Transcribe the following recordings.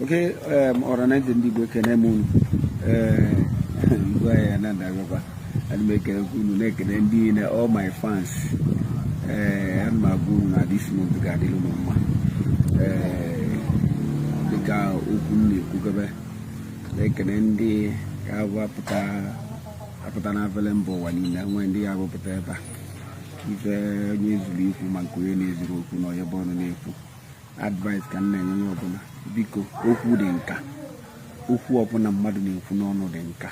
okay um, ọra na eze ndị Igbo ekene m unu ngwa um, ya na ndagakwa ana m ekene unu na-ekene ndị niile all my fans ee um, ana m agwa unu na this month ga-adịrị m mma ee dịka okwu m na-ekwugebe na-ekene ndị ga-apụta na avele mba ụwa niile nwee ndị ya abụpụta ebe a ife onye zuru ikwu ma nke onye na-ezuru okwu na onye bu ọnụ na-ekwu advice ka m na-enye onye ọbụla biko okwu dị nka okwu ọbụla mmadụ na-ekwu n'ọnụ dị nka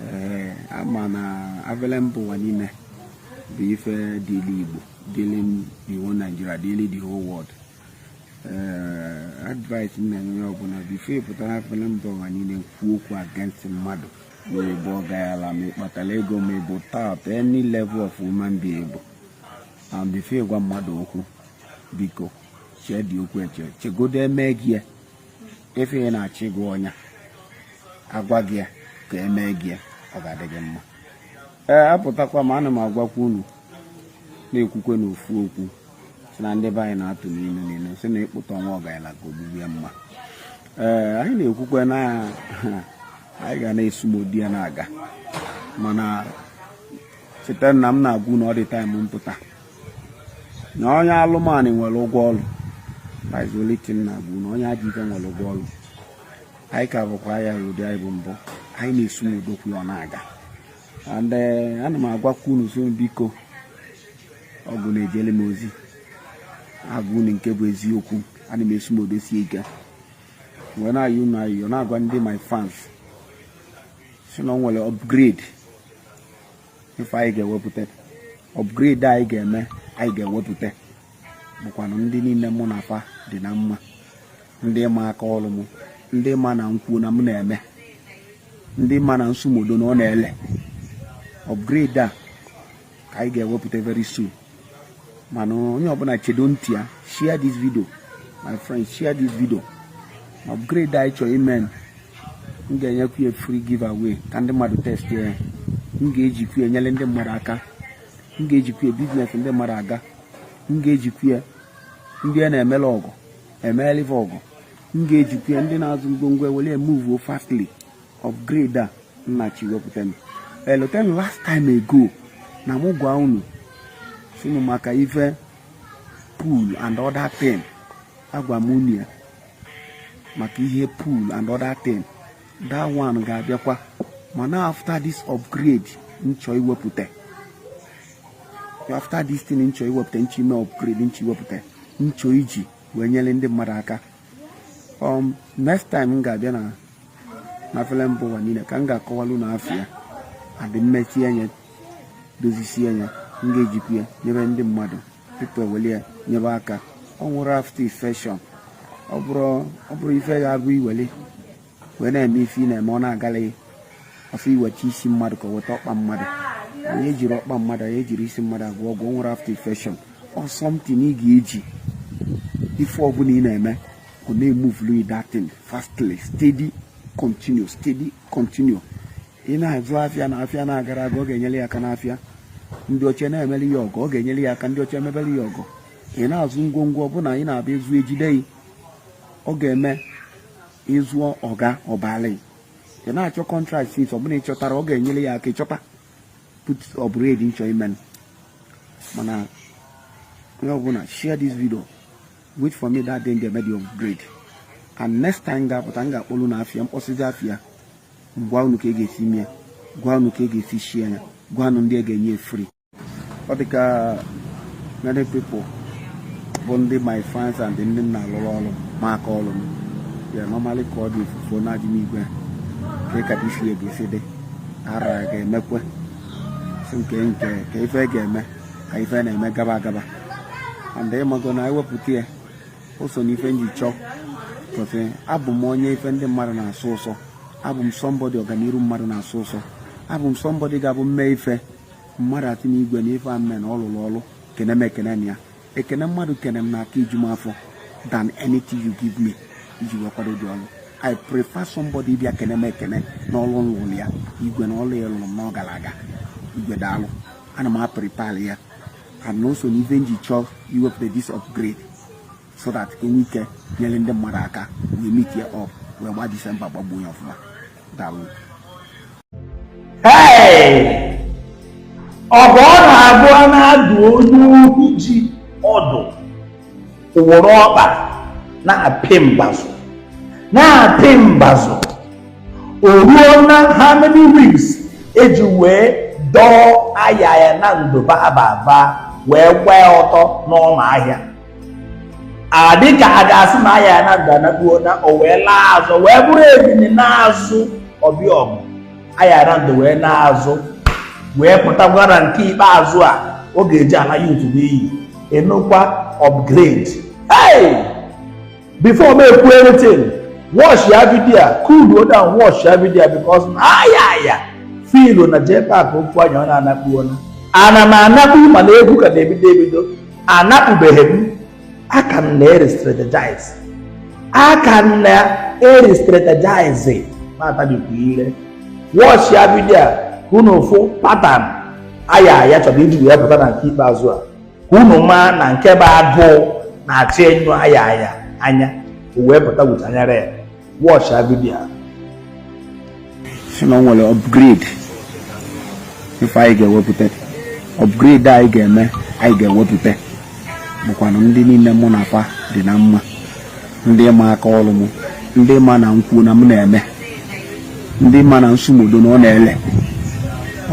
ee a ma na avele mba ụwa niile bụ ife dịli igbo dịli the whole Nigeria dịli the whole world ee advice m na-enye onye ọbụla before ị pụta avele mba ụwa niile kwuo okwu against mmadụ ma ị bụ ọgayala ma ị kpatara ego ma ị bụ tata any level of human being ị bụ and before ị gwa mmadụ okwu biko cheedị okwu eche chegodo e mee gị ya ife ị na-achọ ịgwa onye a a gwa gị ya ka e mee gị ya ọ ga-adị gị mma ee apụtakwa m ana m agwakwa unu na-ekwukwe n'ofu okwu si na ndị be anyị na-atụ n'ilu n'ilu si na ịkpụtọ nwa ọgaranya ka ogbugbu ya mma ee anyị na-ekwukwe na anyị ga na-esumodo ya na-aga mana cheta na m na-agwa unu all the time m pụta na onye alụmanụ nwere ụgwọ ọrụ paizoletin na-agwa unu na onye ajọ ife nwere ụgwọ ọrụ anyị ka bụkwa ya ụdị anyị bụ mbụ anyị na-esumodokwu ya na-aga and eh, ana m agwakwa unu sị biko ọgwụ na-ejele m ozi agwa unu nke bụ eziokwu ana m esumodosi ike wee na-ayị unu ayịyọ na-agwa ndị my fans si na o nwere upgrade ife anyị ga-ewepụta upgrade anyị ga-eme anyị ga-ewepụta bụkwanụ ndị niile mụ na fa dị na mma ndị ma aka ọrụ m ndị ma na m kwuo na m na-eme ndị ma na m sumodo na ọ na-ele upgrade a ka anyị ga-ewepụta very soon mana onye ọbụla chedo ntị ya share this video my friends share this video upgrade anyị chọrọ ime m ga-enyekwu ya free giveaway ka ndị mmadụ test ya m ga-ejikwu ya nyere ndị mmadụ aka m ga-ejikwu ya business ndị mmadụ aga m ga-ejikwu ya ndị a na-emela ọgwụ emelive ọgwụ m ga-ejikwu ya ndị na-azụ ngwongwo ewere move fastly upgrade a m na-achọ iwepụta m elote na last time ago na mụ gwa unu si m maka ife pool and other thing agwa m unu ya maka ihe pool and other thing that one ga-abịakwa mana after this upgrade m chọ iwepụta after this thing nchọ iwepụta nchọ ime upgrade nchọ iwepụta nchọ iji wee nyere ndị mmadụ aka um next time m ga-abịa na na fele mba ụwa niile ka m ga-akọwalụ na afịa adị mmechi anya dozisie anya m ga-ejikwa ya nyebe ndị mmadụ tupu eweli ya nyebe aka o nwerọ after infection ọ bụrọ ife ga-abụ iweli wee na-eme ife ị na-eme ọ na-agala ya ọsọ iweta isi mmadụ ka ọ weta ọkpa mmadụ anyị ejirọ ọkpa mmadụ anyị ejirọ isi mmadụ agwọ ọgwụ nwerọ after infection or something ị ga-eji ife ọbụla ị na-eme ọ na-emuvulu you that thing fastly steady continue steady continue ị na-azụ afịa na afịa na-agara aga ọ ga-enyere ya aka n'afịa ndị ọcha na-emeli ya ọgọ ọ ga-enyere ya aka ndị ọcha emebeli ya ọgọ ị na-azụ ngwongwo ọbụla ị na-abịa ezu ejide ọ ga-eme ịzụọ ọga ọbali ị na-achọ contract since ọbụla ị chọtara ọ ga-enyere ya aka ịchọta put upgrade nchọ ime mana onye ọbụla share this video wait for me that day m ga-eme the upgrade and next time m ga-apụta m ga-akpọlu na afịa mkpọsịzi afịa gwa unu ka e ga-esi mee gwa unu ka e ga-esi shie ya gwa unu ndị e ga-enye free ọ dị ka many people bụ ndị my fans and ndị m na-alụrụ ọrụ ma aka ọrụ m ya normally ka ọ dị ifufe na-ajụ m igwe ka ịka isi ya ga-esi dị ara ga-emekwe si nke nke ka ife ga-eme ka ife na-eme gaba agaba and ịmago na ewepụta ya o so n'ife nji chọọ because abụ m onye ife ndị mmadụ na-asọ ụsọ abụ m somebody ọganiru mmadụ na-asọ ụsọ abụ m somebody ga-abụ m mee ife mmadụ asị na igwe na ife a m me na ọ lụrụ ọrụ kene m ekene na ya ekene mmadụ kene m na-aka eju m afọ than anything you give me iji wee kwado the ọrụ i prefer somebody bịa kene m ekene na ọrụ m lụrụ ya igwe na ọrụ ya lụrụ m na ọ gara aga igwe daalụ ana m aprepare ya and also na ife nji chọọ iwepụta this upgrade so that ka enwe ike nyere ndị mmadụ aka wee meetie up wee gba december gbagbuo ya ọfụma daalụ ọ bụ ọ na-abụ a na-adụ onye ohi ji ọdụ o were ọkpa na-apị mbazụ na-apị mbazụ o ruo na how many weeks eji wee dọọ ayaya nando ba abava wee gbaa ọtọ n'ọma ahịa adị ka a ga-asị na ayaya nando anakpuo na o wee laa azụ wee bụrụ ebili naa azụ ọ bịa ọgụ ayaya nando wee naa azụ wee pụtakwara nke ikpeazụ a ọ ga-eji ala youtube n'iyi enukwa upgrade hey! before m ekwu anything watch ya video a cool down watch ya video a because na Ayaya feelụ na jpak ofu anya ọ na-anakpu o na ana m anakpu mana egwu ka na-ebido ebido anakpubeghị m aka m na-erestrategize aka m na-erestrategize na-atabikwa ire watch ya video a ka unu fụ pattern Ayaya chọrọ iji wee pụta na nke ikpeazụ a ka unu maa na nke bụ agụụ na-achị enyo Ayaya anya o wee pụta with anyara ya watch ya video a sị na o nwere upgrade ife anyị ga-ewepụta upgrade anyị ga-eme anyị ga-ewepụta bụkwanụ ndị niile mụ na fa dị na mma ndị ma aka ọrụ m ndị ma na m kwuo na m na-eme ndị ma na m sụ m odo na ọ na-ele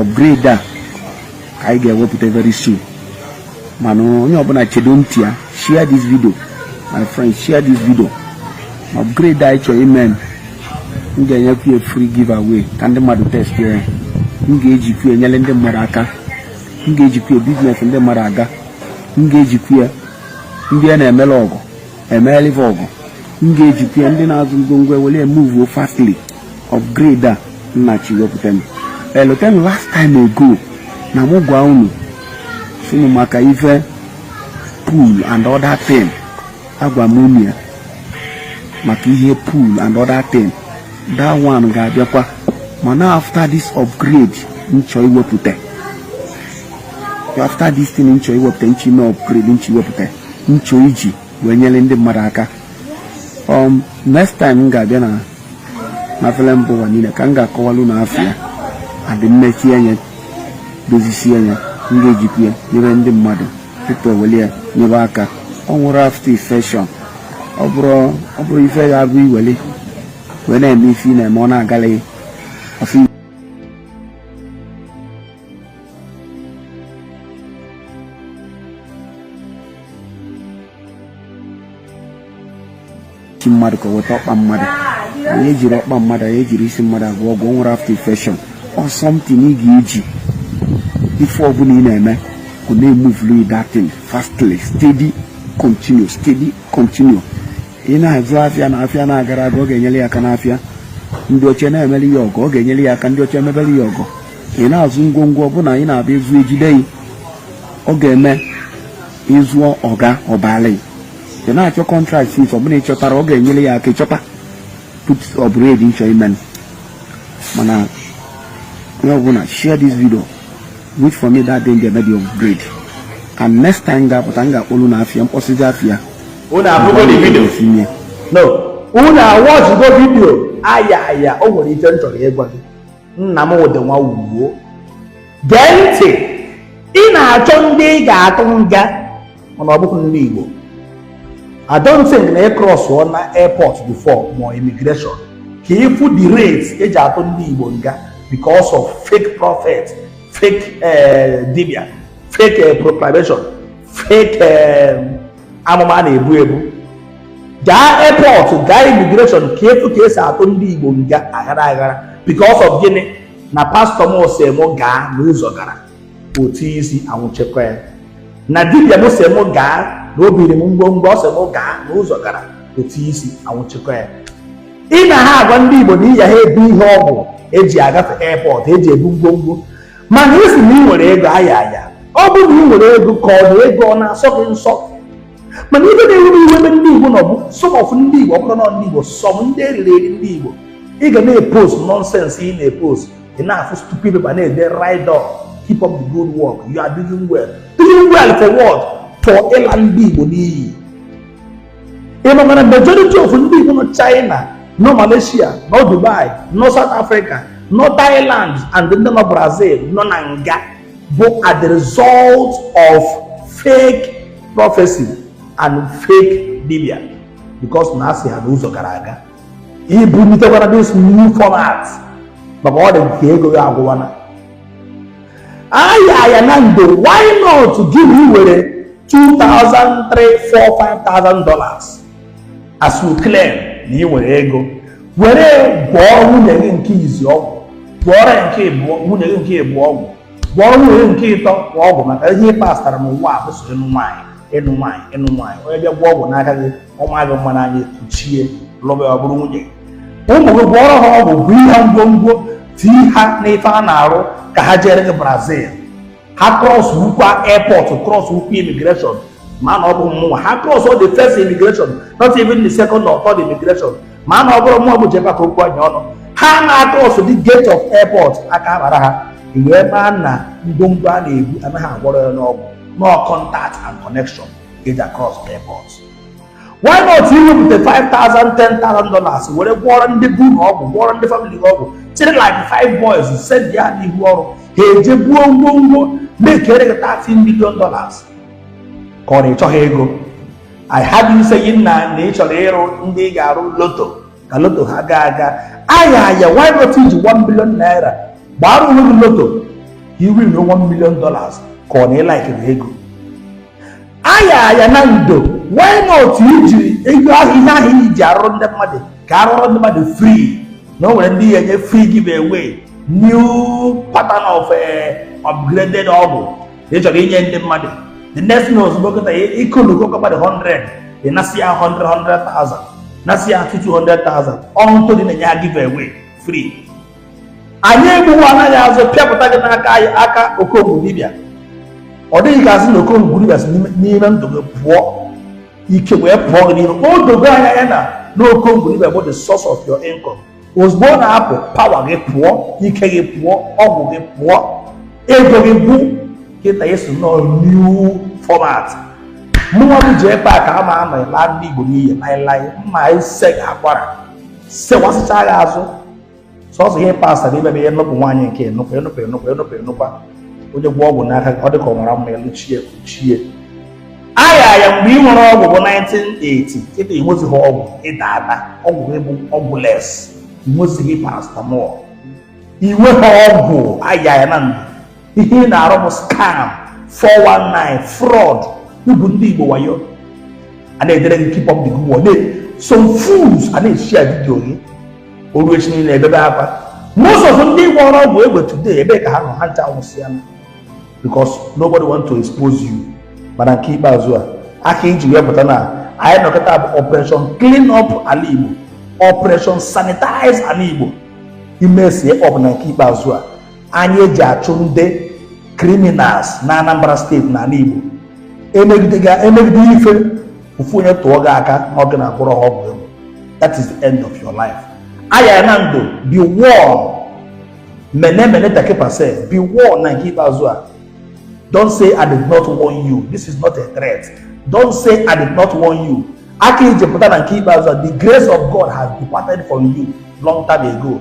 upgrade a ka anyị ga-ewepụta very soon mana onye ọbụla chedo ntị ya share this video my friend share this video ma upgrade anyị chọrọ ime m ga-enyekwu ya free giveaway ka ndị mmadụ test ya m ga-ejikwu ya enyere ndị mmadụ aka m ga-ejikwu ya business ndị mmadụ aga m ga-ejikwu ya ndị a na-emere ọgọ emeelụ fa ọgọ m ga-ejikwa ya ndị na-azụ ngwongwo ewere emove fastly upgrade a m na-achọ iwepụta m elote m last time ago na mụ gwa unu sị unu maka ife pool and other thing agwa m unu ya maka ihe pool and other thing that one ga-abịakwa mana after this upgrade m chọ iwepụta after this thing m chọ iwepụta nchi na upgrade m chọ iwepụta m chọ iji wee nyere ndị mmadụ aka um, next time m ga-abịa na na fele mba ụwa niile ka m ga-akọwalụ unu afa ya and m mechie anya dozisie anya m ga-ejikwa ya nyere ndị mmadụ tupu eweli ya nyebe aka o nwerọ after infection ọ bụrọ ife ya abụ i weli wee na-eme ife ị na-eme ọ na-agala ya isi mmadụ ka weta ọkpa mmadụ anyị ejirọ ọkpa mmadụ anyị ejirọ isi mmadụ agwọ ọgwụ nwere after infection or something ị ga-eji ife ọbụla ị na-eme ọ na-emovelụ that thing fastly steady continue steady continue ị na-azụ afịa na afịa na-agara aga ọ ga-enyere ya aka n'afịa ndị ọcha na-emeli ya ọgọ ọ ga-enyere ya aka ndị ọcha emebeli ya ọgọ ị na-azụ ngwongwo ọbụla ị na-abịa ezu ejide gị ọ ga-eme ịzụọ ọga ọbala ị na-achọ contract ife ọbụla ị chọtara ọ ga-enyere ya aka ịchọta put upgrade nchọ imen mana onye ọbụla share this video wait for me that day m ga-eme the upgrade and next time m ga-apụta m ga-akpọlu na afịa m kpọsịzie afịa unu afụgo the video esimie no unu awatchigo video aya aya o nwere ife m chọrọ ịgwa gị nna m ụdị nwa wuo gee ntị ị na-achọ ndị ị ga-atụ nga mana ọ bụghị ndị Igbo I don't think na ị crossọna airport before ma immigration ka ị fụ the rate eji atụ ndị Igbo nga because of fake prophet fake eh, dibia fake eh, proclamation fake eh, amụma a na-ebu ebu gaa airport gaa immigration ka ị fụ ka esi atụ ndị igbo nga aghara aghara because of gịnị na pastor m sị m gaa na ụzọ gara otu isi anwụchikwa ya na dibia m sị m gaa na obiri m ngwongwo ọ sị m gaa na ụzọ gara otu isi anwụchikwa ya ị na ha agwa ndị igbo na iyi ha ebu ihe ọgwụ eji agafe airport eji ebu ngwongwo mana ị sị na ị nwere ego aya aya ọ bụ na ị nwere ego ka ọ bụ ego ọ na-asọ gị nsọ mana ibe na-ewe m iwe ebe ndị igbo nọ bụ some of ndị igbo ọ bụrụ na ndị igbo some ndị eriri eri ndị igbo ị ga na-epost nonsense ị na-epost ị na-afụ stupid people na-ede ride on keep up the good work you are doing well doing well for what for ịla ndị igbo n'iyi ị makwa na majority of ndị Igbo nọ China nọ Malaysia nọ Dubai nọ South Africa nọ Thailand and ndị nọ Brazil nọ na nga bụ as the result of fake prophecy and fake dibia because na a sị ha na ụzọ gara aga i bunitekwana this new format maka ọ dị ka ego gị agwụwana aya aya na ndo why not gị na iwere 2000 3 4 5000 dollars as you claim na ị nwere ego were gwọọrọ nwunye gị nke izi ọgwụ gwọọrọ nwunye gị nke ịbụọ ọgwụ gwọọrọ nwunye gị nke ịtọ kwa ọgwụ maka ihe ị pastara n'ụwa a bụ sọ ịnụ nwaanyị ịnụ nwaanyị ịnụ nwaanyị onye bịa gwọọ ọgwụ n'aka gị ọ maa gị mma n'anya i kuchie lụba ya ọ bụrụ nwunye gị ụmụ gị gwọọrọ ha ọgwụ bunye ha ngwongwo tii ha n'ife a na-arụ ka ha jere gị brazil ha crossụkwa airport crossụkwa immigration ma na ọ bụ mmụnwa ha cross the first immigration not even the second or third immigration ma na ọ bụrụ mmụọ bụ jeba ka okwu anya ọnụ ha na-across the gate of airport aka akpara ha wee maa na ngwongwo a na-ebu anaghị agwọrọ ya n'ọgwụ na ọ contact and connection eji across airport why not iwepụta 5000 10000 dollars were gwọrọ ndị be unu ọgwụ gwọrọ ndị famili gị ọgwụ chịrị like five boys sendie ha n'ihu ọrụ ha eje buo ngwongwo mekere gị 30 million dollars ka ọ na ị chọghị ego I heard you saying na na ị chọrọ ịrụ ndị ị ga-arụ loto ka loto ha gaa aga Ayaya why not iji 1 billion naira gbara onwe gị loto ị win 1 million dollars ka ọ na ịlaikiri ego Ayaya Nando why not ijiri ego ahụ ihe ahụ i ji arụrụ ndị mmadụ ka arụrụ ndị mmadụ free na o nwere ndị ị ya-enye free give away new pattern of eh, upgraded ọgwụ ị chọrọ inye ndị mmadụ the next thing ozugbo kịta ịkụlụgo mmadụ 100 ị nasịa ha 100 100,000 nasịa ha 200,000 on top ị na-enye ha give away free anyị egbughị anaghị azụ pịapụta gị n'aka anyị aka okongwu dibịa ọ dịghị ka asị na okongwu dibịa si n'ime ndụ gị pụọ ike wee pụọ gị n'ime o dogo anyị anya na okongwu dibịa bụ the source of your income ozugbo ọ na-apụ power gị pụọ ike gị pụọ ọgwụ gị pụọ ego gị pụọ kịta ị sị na ọ new format mụnwa bụ ji epe a ka a ma ama ịla ndị igbo n'iyi laịlaị m ga-ese gị akwara sewasịcha gị azụ sọsọ ihe pasta na imebe ihe nnupụ nwaanyị nke enupụ enupụ enupụ enupụ enupụ onye gwọọ ọgwụ n'aka ọ dị ka ọ nwara mma elu chie kpuchie Ayaya mgbe ị nwere ọgwụ bụ 1980 kịta ịnwezighị ọgwụ ịda ada ọgwụ gị bụ ọgwụless ịnwezighị paracetamol i nweghị ọgwụ Ayaya Nando ihe ị na-arụ bụ scam 419 fraud igwu ndị igbo wayo a na-edere gị keep up the good work some fools a na-eshare vidio gị o ruo echi niile ebebe akwa most of ndị gwọrọ ọgwụ egbe today ebee ka ha nọ ha ncha anwụsịa because nobody want to expose you mana nke ikpeazụ a aka anyị ji wee pụta na anyị nọ kịta bụ operation clean up ala igbo operation sanitize ala igbo imesie ọbụla nke ikpeazụ a anyị eji achụ ndị criminals na Anambra state na ala Igbo emegide ife ofu onye tụọ gị aka na ọ gị na-agwọrọ ha ọgwụ egbe that is the end of your life Ayaya Nando be warned mene mene tekel upharsin be warned na nke ikpeazụ a don't say i did not warn you this is not a threat don't say i did not warn you aka anyị ji pụta na nke ikpeazụ a the grace of god has departed from you long time ago